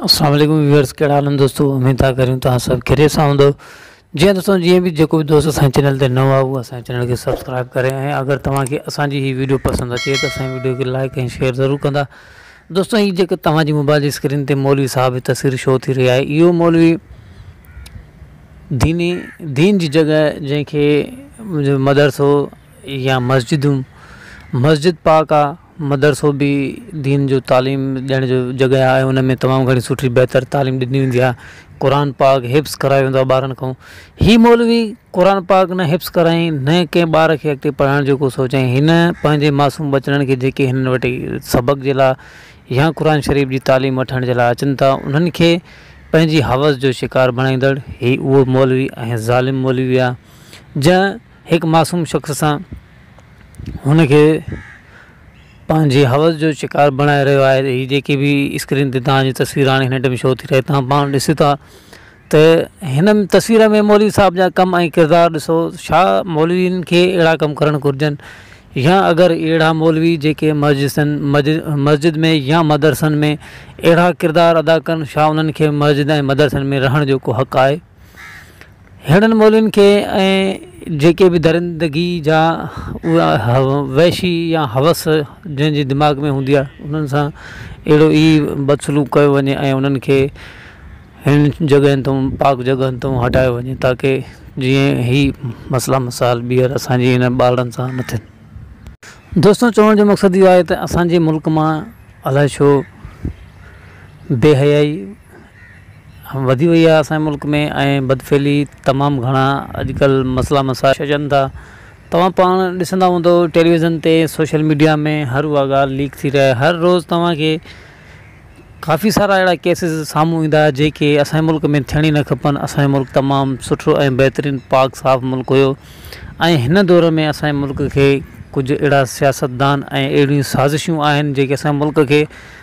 السلام عليڪم ويورز ڪهڙا حال آهن دوستو اميد ٿا ڪريون توهان سڀ خيريت سان هوندو جي ها دوستو جيئن به جيڪو به دوست اسان چينل تي نو آهي اسان چينل کي سبسڪرائب ڪري ۽ اگر توهان کي اسان جي هي ويڊيو پسند اچي ته اسان ويڊيو کي لائڪ ۽ شيئر ضرور ڪندا دوستو هي جيڪو توهان جي موبائل جي اسڪرين تي مولوي صاحب جي تصوير شو ٿي رهي آهي اهو مولوي ديني دين جي جڳهه جنهن کي مدرسو يا مسجدون مسجد پاڪ آ مدرسو به دين جو تعليم ڏيڻ جو جڳهه آهي ان ۾ تمام گهڻي سٺي بهتر تعليم ڏني ويندي آهي قرآن پاڪ حفظ ڪرايو ويندو آهي ٻارن کان هي مولوي قرآن پاڪ نه حفظ ڪرائين نه ڪنهن ٻار کي اڳتي پڙهائڻ جو ڪو سوچائين هن پنهنجي معصوم ٻچڙن کي جيڪي هن وٽ سبق جي لاء يا قرآن شريف جي تعليم وٺڻ جي لاء اچن ٿا انهن کي پنهنجي حوس جو شڪار بڻائيندڙ هي اهو مولوي ۽ ظالم مولوي آهي جنهن هڪ معصوم شخص سان هن کي پنهنجي حوس جو شڪار بڻائي رهيو آهي هي جيڪي به اسڪرين تي تهانجي تصوير هاڻي هن ٽيم شو ٿي رهي تهان پاڻ ڏسيو ٿا ته هن تصوير ۾ مولوي صاحب جا ڪم ۽ ڪردار ڏسو ڇا مولوين کي اهڙا ڪم ڪرڻ گهرجن يا اگر اهڙا مولوي جيڪي مسجسن مسجد ۾ يا مدرسن ۾ اهڙا ڪردار ادا ڪن ڇا انهن کي مسجد ۽ مدرسن ۾ رهڻ جو ڪو حق آهي ههڙن ٻولين کي ۽ جيڪي به درندگي جا اها وحشي يا هوس جنهن جي دماغ ۾ هوندي آهي انهن سان اهڙو ئي بدسلوڪ ڪيو وڃي ۽ انهن کي هن جڳهن تون پاڪ جڳهن تون هٽايو وڃي تاڪي جيئن هي مسئلا مسائل ٻيهر اسانجي هن ٻارڙن سان نه ٿين دوستو چوڻ جو مقصد اهو آهي ته اسانجي ملڪ مان الائي ڇو بي حيائي وڌي وئي آهي اسان جي ملڪ ۾ ۽ بدفعلي تمام گهڻا اڄڪلهه مسئلا مسائل اچن ٿا توهان پاڻ ڏسندا هوندو ٽيليوزن تي سوشل ميڊيا ۾ هر اها ڳالهه ليڪ ٿي رهي هر روز توهانکي ڪافي سارا اهڙا ڪيسز سامهون ايندا جيڪي اسان جي ملڪ ۾ ٿيڻ ئي نه کپن اسان جو ملڪ تمام سٺو ۽ بهترين پاڪ صاف ملڪ هيو ۽ هن دور ۾ اسان جي ملڪ کي ڪجهه اهڙا سياستدان ۽ اهڙيون سازشون آهن جيڪي اسان جي ملڪ کي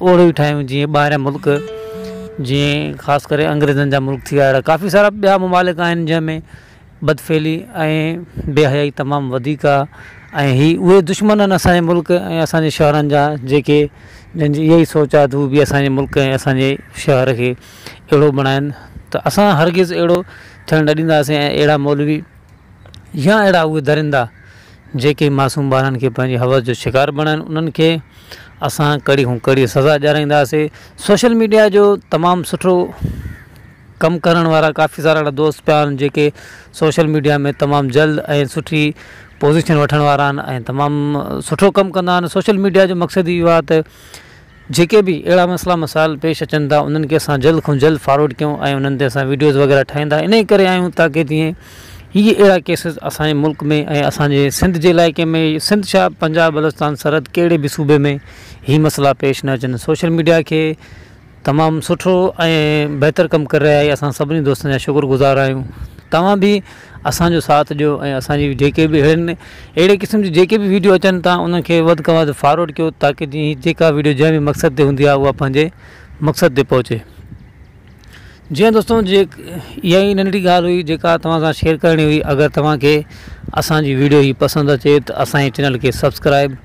اهڙو ئي ٺاهيون جيئن ٻاهريان ملڪ جيئن خاص ڪري انگريزن جا ملڪ ٿي ويا اهڙا ڪافي سارا ٻيا ممالڪ آهن جنهن ۾ بدفعلي ۽ بي حيائي تمام وڌيڪ آ ۽ هي اهي دشمن آهن اسانجي ملڪ ۽ اسانجي شهرن جا جيڪي جن جي اهي ئي سوچ آ ته هو به اسانجي ملڪ ۽ اسانجي شهر کي اهڙو بڻائن ته اسان هرگز اهڙو ٿيڻ نه ڏينداسين ۽ اهڙا مولوي يا اهڙا اهي درندا جيڪي معصوم ٻارن کي پنهنجي حوس جو شڪار بڻائن انهن کي اسان ڪڙي کان ڪڙي سزا ڏيارائينداسي سوشل ميڊيا جو تمام سٺو ڪم ڪرڻ وارا ڪافي سارا اهڙا دوست پيا آهن جيڪي سوشل ميڊيا ۾ تمام جلد ۽ سٺي پوزيشن وٺڻ وارا آهن ۽ تمام سٺو ڪم ڪندا آهن سوشل ميڊيا جو مقصد اهو آهي ته جيڪي به اهڙا مسئلا مسائل پيش اچن ٿا انهن کي اسان جلد کان جلد فارورڊ ڪيون ۽ انهن تي اسان وڊيوز وغيره ٺاهيندا انهي ڪري آهيون تاڪي جيئن هي اهڙا ڪيسز اسان جي ملڪ ۾ ۽ اسان جي سنڌ جي علائقي ۾ سنڌ ڇا پنجاب بلوچستان سرحد ڪهڙي به صوبي ۾ هي مسئلا پيش نه اچن سوشل ميڊيا کي تمام سٺو ۽ بهتر ڪم ڪري رهي آهي اسان سڀني دوستن جا شڪر گذار آهيون توهان به اسان جو ساٿ ڏيو ۽ اسان جي جيڪي به اهڙين اهڙي قسم جي جيڪي به ويڊيو اچن ٿا انهن کي وڌ کان وڌ فاروڊ ڪيو تاڪه جي هي جيڪا ويڊيو جنهن به مقصد تي هوندي آهي اها پنهنجي مقصد تي پهچي جي هان دوستو جي اها ئي ننڍڙي ڳالهه هئي جيڪا توهان سان شيئر ڪرڻي هئي اگر توهان کي اسان جي ويڊيو هي پسند اچي ته اسان جي چينل کي سبسڪرائب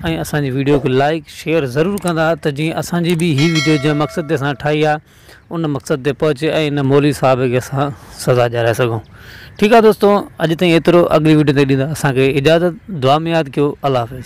۽ اسان جي ويڊيو کي لائڪ شيئر ضرور ڪندا ته جي اسان جي به هي ويڊيو جنهن مقصد تي اسان ٺاهي آهي ان مقصد تي پهچي ۽ ان مولوي صاحب کي اسان سزا ڏياري سگهون ٺيڪ آ دوستو اڄ تائين ايترو اڳلي وڊيو تائين ڏيندا اسان کي اجازت دعا ۾ ياد ڪيو الله حافظ